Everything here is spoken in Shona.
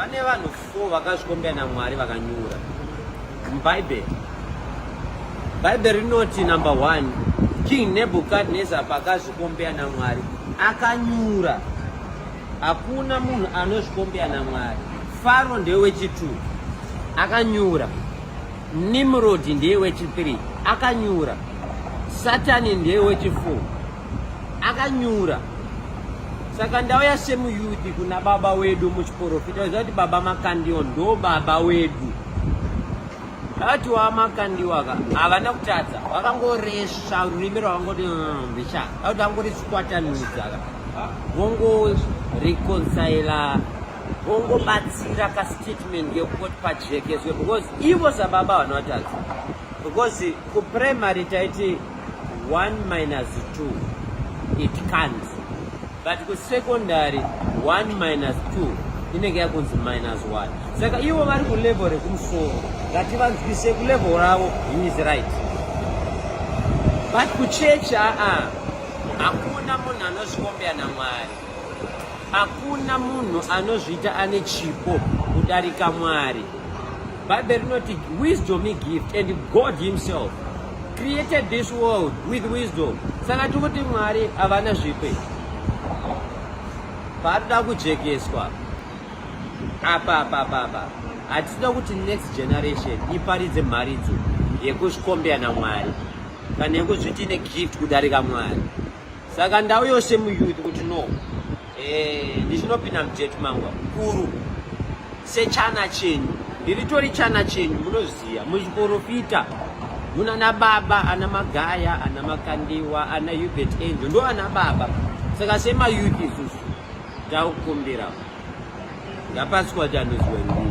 Pane vanhu 4 vakazvikombera naMwari vakanyura muBhaibheri. Bhaibheri rinoti number 1 King Nebuchadnezzar pakazvikombera naMwari akanyura. Hakuna munhu anozvikombera naMwari. Faro ndewechitu akanyura. Nimrod ndeyewechithree akanyura. Satani ndeyewechifour akanyura saka ndauya semuyuthi kuna baba wedu muchiporofita waziva kuti baba makandiwa ndo baba wedu vati wamakandiwa ka havana kutadza vakangoresva rurimi rwavangoti mbicha mm, akuti vangoriswatanudza ka vongoreconcila vongobatsira kastatement kekukoti pajekezwe because ivo sababa vanotadza because kuprimary taiti 1 minus 2 it can't but kusecondary 1 minus 2 inenge yakunzi minus 1 saka ivo vari kulevel rekumusoro ngativanzwise kulevel ravo he is right but kuchechi aa hakuna munhu anozvikombea namwari hakuna munhu anozviita ane chipo kudarika mwari Bible rinoti wisdom is gift and God himself created this world with wisdom. Saka tikuti Mwari havana zvipi. Paanoda kujekeswa apa apa apa apa hatisina kuti next generation iparidze mharidzo yekuzvikombera namwari kana yekuzviti ine gift kudarika mwari saka ndau yose muyouth kuti no eh, ndichinopinda mudate mangu kuru sechana chenyu ndiritori chana chenyu munoziva muzviporofita muna na baba ana magaya ana makandiwa ana hubert angel ndo ana baba saka semayouth isusu takukumbira ngapasi kwati anoziwa ndii